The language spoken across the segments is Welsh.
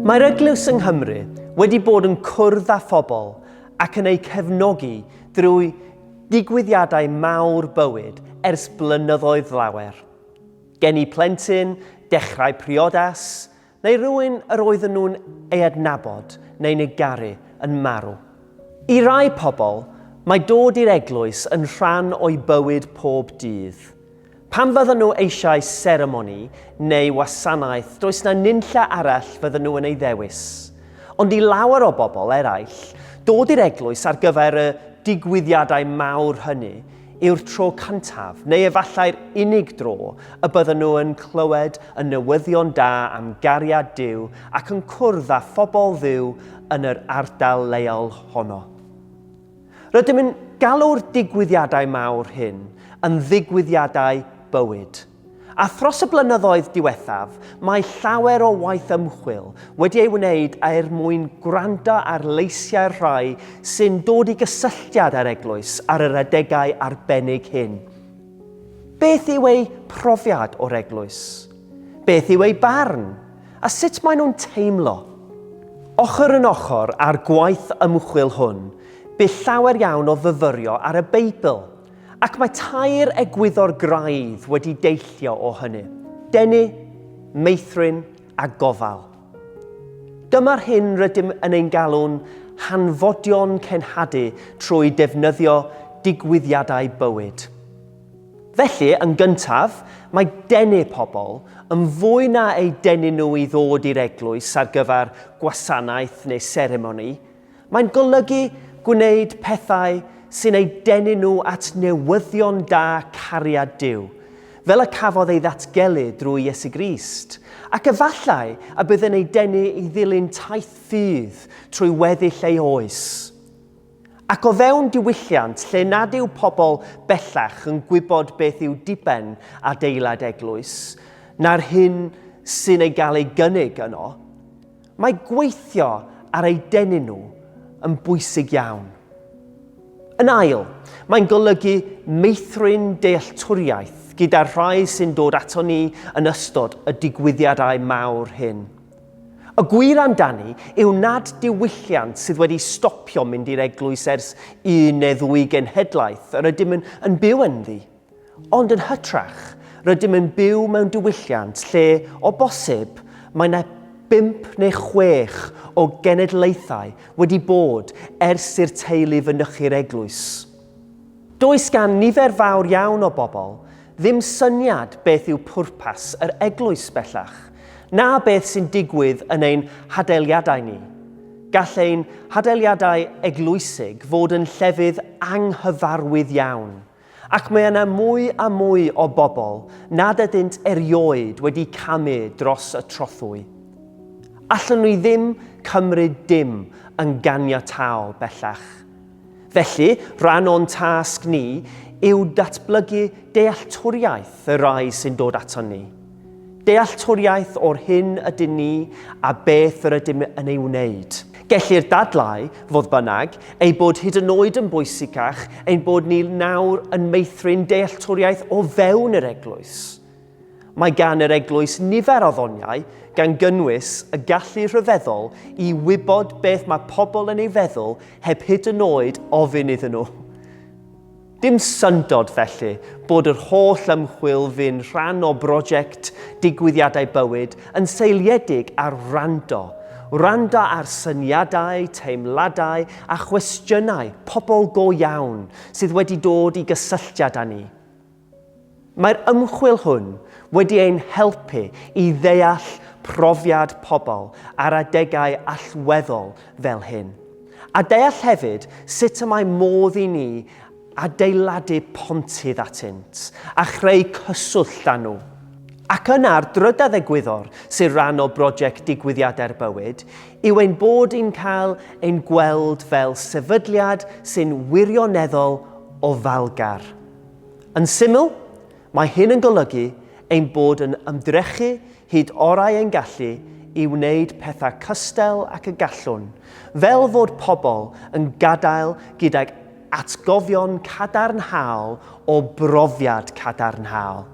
Mae'r Eglwys yng Nghymru wedi bod yn cwrdd â phobl ac yn eu cefnogi drwy digwyddiadau mawr bywyd ers blynyddoedd lawer. Geni plentyn, dechrau priodas, Neu rhywun yr oedden nhw'n ei adnabod neu'n ei garu yn marw. I rai pobl, mae dod i'r eglwys yn rhan o'u bywyd pob dydd. Pam fyddan nhw eisiau seremoni neu wasanaeth, does 'na nunlle arall fyddan nhw yn ei ddewis. Ond i lawer o bobl eraill, dod i'r eglwys ar gyfer y digwyddiadau mawr hynny yw'r tro cyntaf, neu efallai'r unig dro, y bydden nhw yn clywed y newyddion da am gariad Duw ac yn cwrdd â phobl Dduw yn yr ardal leol honno. Rydym yn galw'r digwyddiadau mawr hyn yn ddigwyddiadau bywyd. A thros y blynyddoedd diwethaf, mae llawer o waith ymchwil wedi ei wneud er mwyn gwrando ar leisiau'r rhai sy'n dod i gysylltiad â'r Eglwys ar yr adegau arbennig hyn. Beth yw eu profiad o'r Eglwys? Beth yw eu barn? A sut maen nhw'n teimlo? Ochr yn ochr â'r gwaith ymchwil hwn, bu llawer iawn o fyfyrio ar y Beibl, Ac mae tair egwyddor graidd wedi deillio o hynny, denu, meithrin a gofal. Dyma'r hyn rydym yn ein galw'n hanfodion cenhadu trwy defnyddio digwyddiadau bywyd. Felly, yn gyntaf, mae denu pobl, yn fwy na eu denu nhw i ddod i'r eglwys ar gyfer gwasanaeth neu seremoni, Mae'n golygu gwneud pethau sy'n eu denu nhw at newyddion da cariad Duw, fel y cafodd ei ddatgelu drwy Iesu Grist, ac efallai y bydd yn eu denu i ddilyn taith ffydd trwy weddill ei oes. Ac o fewn diwylliant lle nad yw pobl bellach yn gwybod beth yw diben adeilad eglwys, na'r hyn sy'n ei gael ei gynnig yno, Mae gweithio ar eu denu nhw yn bwysig iawn. Yn ail, mae'n golygu meithrin dealltwriaeth gyda'r rhai sy'n dod ato ni yn ystod y digwyddiadau mawr hyn. Y gwir amdani yw nad diwylliant sydd wedi stopio mynd i'r eglwys ers un neu ddwy genhedlaeth yr ydym yn byw ynddi. Ond yn hytrach, rydym yn byw mewn diwylliant lle, o bosib, mae 'na bump neu chwech o genedlaethau wedi bod ers i'r teulu fynychu'r eglwys. Does gan nifer fawr iawn o bobl ddim syniad beth yw pwrpas yr eglwys bellach, na beth sy'n digwydd yn ein hadeiliadau ni. Gall ein hadeiliadau eglwysig fod yn llefydd anghyfarwydd iawn. Ac mae yna mwy a mwy o bobl nad ydynt erioed wedi camu dros y trothwy. Allwn ni ddim cymryd dim yn ganiataol bellach. Felly, rhan o'n tasg ni yw datblygu dealltwriaeth y rhai sy'n dod aton ni. Dealltwriaeth o'r hyn ydyn ni a beth yr ydym yn ei wneud. Gellir dadlau, fodd bynnag, ei bod hyd yn oed yn bwysicach ein bod ni nawr yn meithrin dealltwriaeth o fewn yr Eglwys. Mae gan yr Eglwys nifer o ddoniau, gan gynnwys y gallu rhyfeddol i wybod beth mae pobl yn ei feddwl heb hyd yn oed ofyn iddyn nhw. Dim syndod, felly, bod yr holl ymchwil fu'n rhan o brosiect Digwyddiadau Bywyd yn seiliedig ar wrando. Wrando ar syniadau, teimladau a chwestiynau pobl go iawn sydd wedi dod i gysylltiad â ni. Mae'r ymchwil hwn wedi ein helpu i ddeall profiad pobl ar adegau allweddol fel hyn, a deall hefyd sut y mae modd i ni adeiladu pontydd atynt a chreu cyswllt â nhw. Ac yna'r drydedd egwyddor, sy'n rhan o broject Digwyddiadau'r Bywyd, yw ein bod yn cael ein gweld fel sefydliad sy'n wirioneddol ofalgar. Yn syml, mae hyn yn golygu ein bod yn ymdrechu hyd orau ein gallu i wneud pethau cystal ac y gallwn, fel fod pobl yn gadael gydag atgofion cadarnhaol o brofiad cadarnhaol.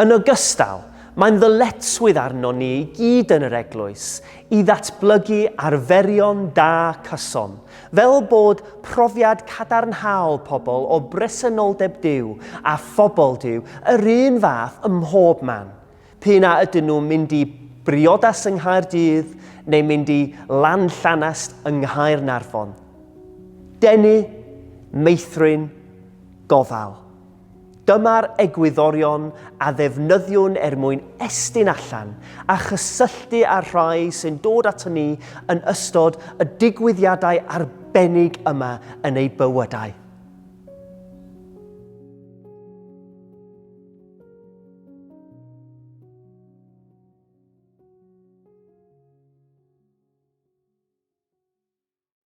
Yn ogystal, mae'n ddyletswydd arnon ni i gyd yn yr Eglwys i ddatblygu arferion da cyson, fel bod profiad cadarnhaol pobl o bresenoldeb Duw a phobl Duw yr un fath ym mhob man, p'un a ydyn nhw'n mynd i briodas yng Nghaerdydd neu mynd i Lanllanast yng Nghaernarfon. Denu, meithrin, gofal. Dyma'r egwyddorion a ddefnyddiwn er mwyn estyn allan a chysylltu â'r rhai sy'n dod aton ni yn ystod y digwyddiadau arbennig yma yn eu bywydau.